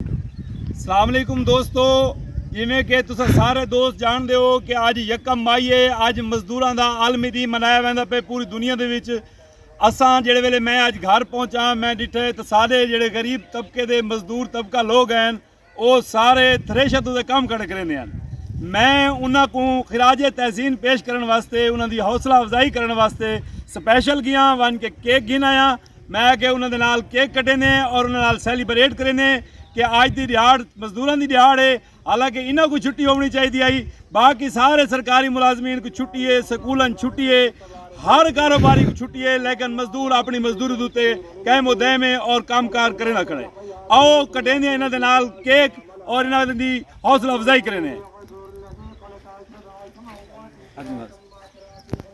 السلام علیکم دوستو جویں کہ تسا سارے دوست جان دے ہو کہ اج یکم مائی ہے اج مزدوراں دا عالمی دی منایا ویندا پے پوری دنیا دے وچ اساں جڑے ویلے میں اج گھر پہنچا میں ڈٹھے تے سارے جڑے غریب طبقے دے مزدور طبقہ لوگ ہیں او سارے تھریشر تو دے کام کڑے کریندے ہیں میں انہاں کو خراج تحسین پیش کرن واسطے انہاں دی حوصلہ افزائی کرن واسطے سپیشل گیا ون کے کیک گھن آیا ہاں۔ میں آکھیا انہاں دے نال کیک کٹیندے ہیں اور انہاں نال سیلیبریٹ کریندے ہیں کہ آج دی دیہاڑ مزدوراں دی دیہاڑ ہے حالانکہ انہاں کو چھٹی ہونی چاہی دی آئی باقی سارے سرکاری ملازمین کو چھٹی ہے سکولن چھٹی ہے ہر کاروباری کو چھٹی ہے لیکن مزدور اپنی مزدوری دوتے قائم و دائم ہے اور کام کار کرنا کھڑے آؤ کٹیندے ہیں انہاں دے نال کیک اور انہاں دی حوصلہ افزائی کریندے ہیں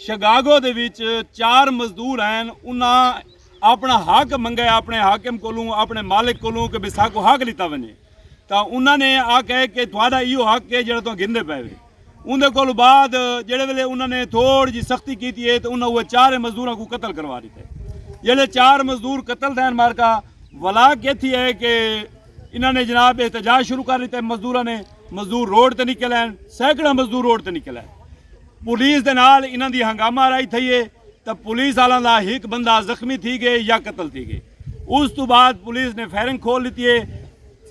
شگاگو دے وچ چار مزدور ہین انہاں اپنا حق منگے اپنے حاکم کولوں اپنے مالک کولوں کہ بسا کو حق لیتا ونجے تا انہاں نے آکھے کہ تھوڑا ایو حق ہے جڑا تو گھندے پے وے اون دے کول بعد جڑے ویلے انہاں نے تھوڑ جی سختی کیتی ہے تو انہاں وہ چار مزدوراں کو قتل کروا دیتا ہے جلے چار مزدور قتل دین مارکا ولا کیتی ہے کہ انہاں نے جناب احتجاج شروع کر دیتا ہے مزدوراں نے مزدور روڈ تے نکل ہیں سینکڑا مزدور روڈ تے نکل ہیں پولیس دے نال انہاں دی ہنگامہ آرائی تھئی اے تاں پولیس آلاں دا ہک بندہ زخمی تھی گئے یا قتل تھی گئے۔ اس توں بعد پولیس نے فائرنگ کھول ڈتی اے۔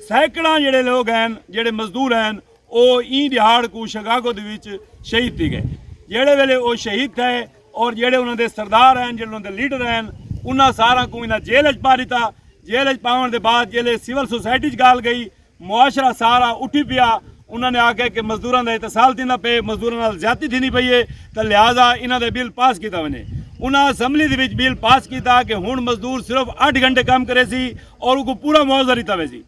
سینکڑاں جیڑھے لوگ ہین جیڑھے مزدور ہین او ایں ڈیہاڑ کوں شگاگو دے وچ شہید تھی گئے۔ جیڑھے ویلے او شہید تھئے اور جیڑھے انہاں دے سردار ہین جیڑھے انہاں دے لیڈر ہین انہاں ساراں کوں انہاں جیل اچ پا ڈتا۔ جیل اچ پاون دے بعد جیلے سول سوسائٹی اچ گال گئی معاشرہ سارا اٹھی پیا۔ انہاں نے آکھیا کہ مزدوراں دا احتسال تھیندا پئے، مزدوراں نال زیادتی تھیندی پئی اے تاں لہذا انہاں دا بل پاس کیتا ونجے۔ انہاں اسمبلی دے وچ بل پاس کیتا کہ ہنڑ مزدور صرف اٹھ گھنٹے کم کریسی اور اوکوں پورا معاوضہ ڈتا ویسی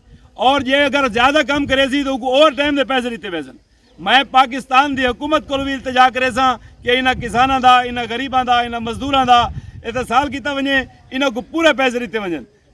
اور جے اگر زیادہ کم کریسی تاں اوکوں اوور ٹائم دے پیسے ڈتے ویسن۔ میں پاکستان دی حکومت کولوں وی التجا کریساں کہ انہاں کساناں دا، انہاں غریباں دا، انہاں مزدوراں دا احتسال کیتا ونجے، انہاں کوں پورے پیسے ڈتے ونجن۔